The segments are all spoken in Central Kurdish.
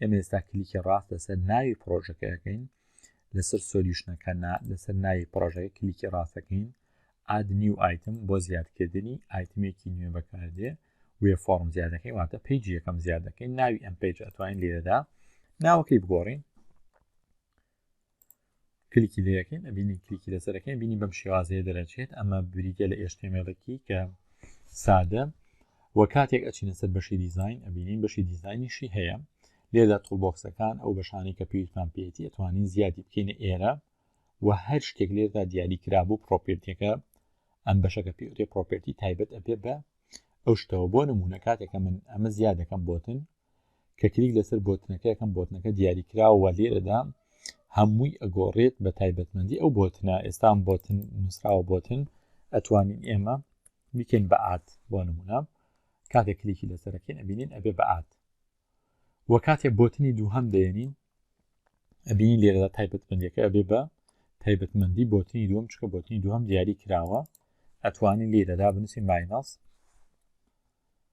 ئێمە ئێستا کلیکی ڕاست لەسەر ناوی پرۆژەکە دەکەین لەسەر سۆلیوشنەکە لەسەر ناوی پرۆژەکە کلیکی ڕاستەکەین ئاد نیو ئایتم بۆ زیادکردنی ئایتمێکی نوێ بەکاردێ وێ فۆرم زیادەکەی واتە پیج یەکەم زیادەکەی ناوی ئەم پیج ئەتوانین لێرەدا ناوەکەی بگۆڕین کلیکی لێ یەکەین ئەبینین کلیکی لەسەرەکەی بینی بەم شێوازەیە دەرەچێت ئەمە بریتە لە ئێشتێمێڵێکی کە سادە و کاتێک ئەچینە سەر بەشی دیزین ئەبینین بەشی دیزینیشی هەیە لێدا تۆڵبۆکسەکان ئەو بەشانی کە پێویستمان پێێتی ئەتوانین زیادی بکەینە ئێرە و هەر شتێک لێردا دیاری کرابوو پرۆپێرتەکە ئەم بەشەکە پێوتێ پرۆپێرتی تایبەت ئەبێ بە ئەو شتەوە بۆ نمونە کاتێکە من ئەمە زیادەکەم بۆتن کە کلیک لەسەر بۆتنەکە یەکەم بۆتنەکە دیاری کراوە لێرەدا هەمووی ئەگۆڕێت بە تایبەتمەندی ئەو بۆتنە ئێستان بۆتن نووسراوە بۆتن ئەتوانین ئێمە بیکەین بە ئات بۆ نمونە کاتێک کلیکی لەسەرەکەین ئەبینین ئەبێ بە ئات وە کاتێ بۆتنی دووهم دێنین ئەبینین لێرەدا تایبەتمەندەکە ئەبێ بە تایبەتمەندی بۆتنی دووەم چکە بۆتنی دووەم دیاری کراوە ئەتوانین لێرەدا بنووسی ماینەس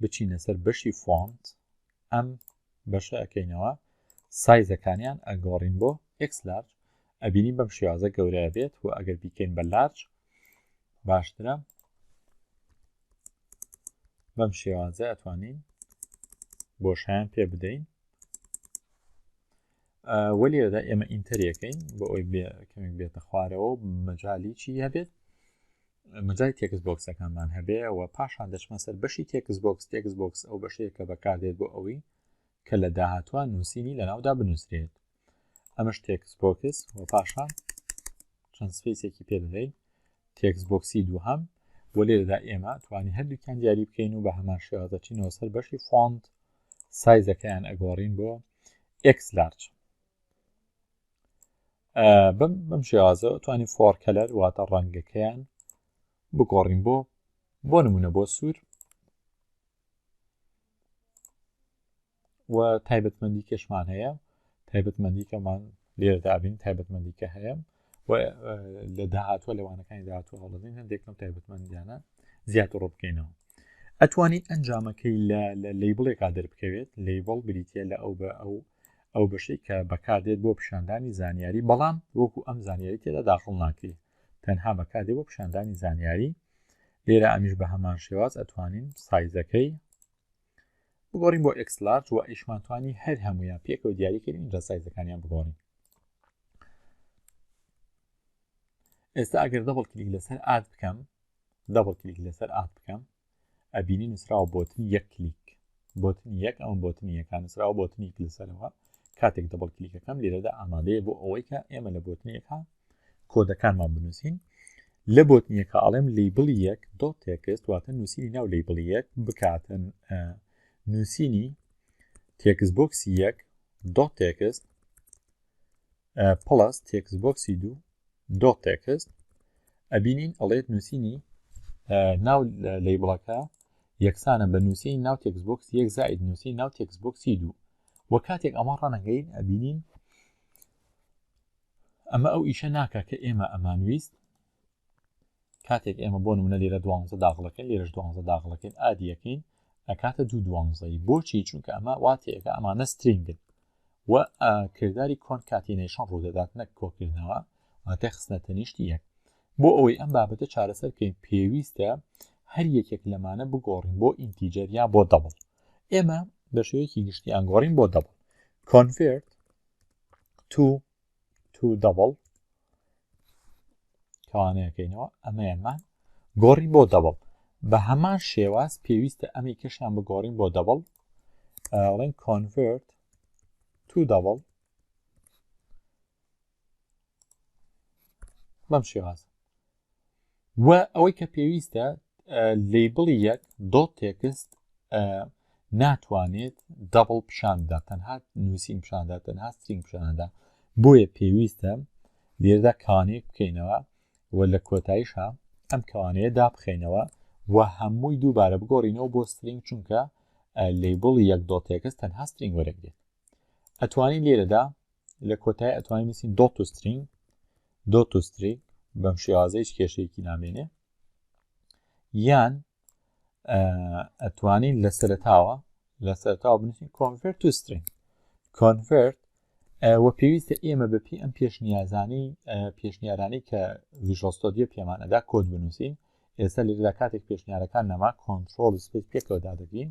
بچینە سەر بەشی فۆنت ئەم بەشە ئەەکەینەوە سایزەکانیان ئەگۆڕین بۆ ئکس لارج ئەبینین بەم شێوازە گەورەیە بێت و ئەگەر بیکەین بە لارج باشترە بەم شێوازە ئەتوانین بۆشیان پێ بدەین وەلیەدا ئێمە ئینتەریەکەین بۆ ئەوی کەمێک بێتە خوارەوە مەجالیی هەبێت مەجای تێکس بۆکسەکانمان هەبێ و پاشان دەچمە سەر بەشی تێکس بۆکس تێکس بۆکس ئەو بەشەیە کە بەکاردێت بۆ ئەوەی کە لە داهاتوە نووسینی لە ناودا بنووسرێت ئەمەش تێکس بۆکس و پاشان چەند سپیسێکی پێ دەدەین تێکس بۆکسی دووهام و لێرەدا ئێمە توانی هەردووکیان دیاری بکەین و بە هەمان شێوازەچینەوە سەر بەشی فۆند سایزەکەیان ئەگۆڕین بۆ ئەکس لارچ بم بم شێوازە توانین فۆر کەلەر واتە ڕەنگەکەیان بگۆڕین بۆ بۆ نمونە بۆ سوور و تایبەتمەندی کەشمان هەیە تایبەتمەندی کەمان لێردابین تایبەتمەندی کە هەیە و لە داهاتوە لەوانەکانی داهاتوە هەڵدەین هەندێکم تایبەتمەندیانە زیاتر ڕۆ بکەینەوە ئەتوانیت ئەنجامەکەی لە لەیبڵێکا دەربکەوێت لەیبڵ بریتە لە ئەو بە ئەو ئەو بەشەی کە بەکاردێت بۆ پیشاندانی زانیاری بەڵام وەکو ئەم زانیاری تێدا داخڵ ناکری تەنها بەکاردێ بۆ پیشاندانی زانیاری لێرە ئەمیش بە هەمان شێواز ئەتوانین سایزەکەی بگۆڕین بۆ ئەکسلارج و ئیشمانتوانی هەر هەمویان پێکەوە دیاریکردین جا سایزەکانیان بگۆڕین ئێستا ئەگەر دەبڵ کلیک لەسەر ئاد بکەم دەبڵ کلیک لەسەر ئاد بکەم ئەبینی نووسراوە بۆتن یەک کلیک بۆتن یەک ئەم بۆتن یەکان نووسراوە بۆتن یەک لەسەرەوە کاتێک دەبڵ کلیکەکەم لێرەدا ئامادەیە بۆ ئەوەی کە ئێمە لە بۆتن یەکان کۆدەکانمان بنووسین لە بۆتن یەکە ئاڵێم لیبڵ یەک دۆ تێکست واتە نووسینی ناو لیبڵ یەک بکاتن نووسینی تێکس بۆکسی یەک دۆ تێکست پڵەس تێکس بۆکسی دوو دۆ تێکست ئەبینین ئەڵێت نووسینی ناو لەی بڵەکە یەکسانە بە نووسین ناو تێکس بۆکس یەک زائید نووسی ناو تێکس بۆکسی دوو وە کاتێک ئەمە ڕەنەگەین ئەبینین ئەمە ئەو ئیشە ناکە کە ئێمە ئەمانویست کاتێک ئێمە بۆ نمونە لێرە دوانزە داغڵەکەین لێرەش دوانزە داغڵەکەین ئادیەکەین ئەکاتە دوو دوانزەی بۆچی چونکە ئەمە واتەیەەکە ئەمانە سترینگن و کردداری کۆن کاتینەیشان ڕوودەدات نەک کۆکردنەوە واتە خستنە تەنیشتی یەک بۆ ئەوەی ئەم بابەتە چارەسەر بکەین پێویستە هەر یەکێک لەمانە بگۆڕین بۆ ئینتیجەر یا بۆ دەبڵ ئێمە بە شێوەیەکی گشتی ئەنگۆڕین بۆ دەبڵ کۆنفرت تو تو دەبڵ کەوانەیەکەینەوە ئەمەیەمان گۆڕی بۆ دەبڵ بە هەمان شێواز پێویستە ئەمی کەشیان بگۆڕین بۆ دەبڵ ڵین کۆنڤرت تو دەبڵ بەم شێواز و ئەوەی کە پێویستە لیبڵی یەک دۆ تێکست ناتوانێت دەبڵ پیشاندا تەنها نووسین پیشاندا تەنها سترین پیشاندا بۆیە پێویستە لێردا کانێک بکەینەوە و لە کۆتاییشە ئەم کەوانەیە دابخینەوە و هەمووی دووبارە بگۆڕینەوە بۆ سترینگ چونکە لیبڵ یەک دۆ تێکست تەنها سترینگ وەرەگرێت ئەتوانین لێرەدا لە کۆتای ئەتوانین نووسین دۆت و سترینگ دۆت و ستریک بەم شێوازە هیچ کێشەیەکی نامێنێ یان ئەتوانین لە سەرتاوە لە سەرتاوە بنووسین کۆنڤرت و سترینگ کۆنڤرت و پێویستە ئێمە بەپی ئەم پێشنیازانی پێشنیارانی کە ویژۆستۆدیە پێمان ئەدا کۆد بنووسین ئێستا لێدا کاتێک پێشنیارەکان نەما کۆنتترۆل سپیت پێکەوەدا دەبین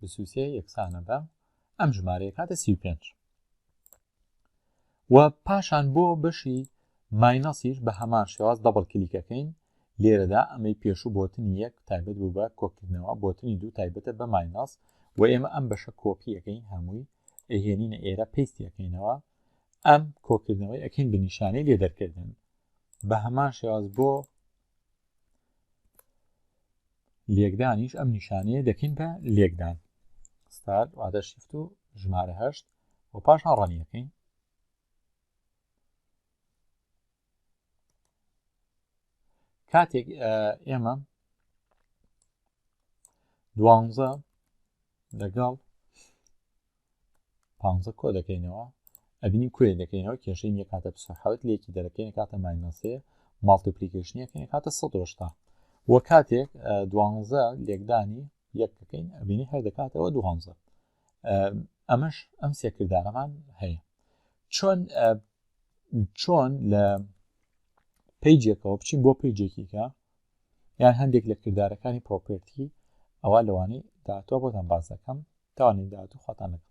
بیست و سێ یەکسانە بە ئەم ژمارەیە کاتە سی و پێنج و پاشان بۆ بەشی ماینەسیش بە هەمان شێواز دەبڵ کلیکەکەین لێرەدا ئەمەی پێشوو بۆتنی یەک تایبەت بوو بە کۆکردنەوە بۆتنی دوو تایبەتە بە ماینەس و ئێمە ئەم بەشە کۆپیەکەین هەمووی ئەهێنینە ئێرە پێستیەکەینەوە ئەم کۆکردنەوەی ئەکەین بە نیشانەی لێ دەرکردن بە هەمان شێواز بۆ لێکدانیش ئەم نیشانەیە دەکەین بە لێکدان ستار واتە شیفت و ژمارە هەشت و پاشان ڕەنیەکەین کاتێک ئێمە دوانزە لەگەڵ پانزە کۆ دەکەینەوە ئەبینین کۆیە دەکەینەوە کێشەی یەک هاتە پسە حوت لەکی دەرەکەی نکاتە ماینەسێ ماڵتیپلیکیشنیەکە نکاتە 1970 وە کاتێک دوانزە لێکدانی یەک دەکەین ئەبینی هەر دەکاتەوە دوانزە ئەمەش ئەم سێکردارەمان هەیە چۆن چۆن لە پیجێکەوە بچین بۆ پیجێکیکە یان هەندێک لە کردارەکانی پرۆپێرتی ئەوا لەوانەی داهاتووە بۆتان باس دەکەم تاوانەی داهاتوو خواتان لەگەڵ.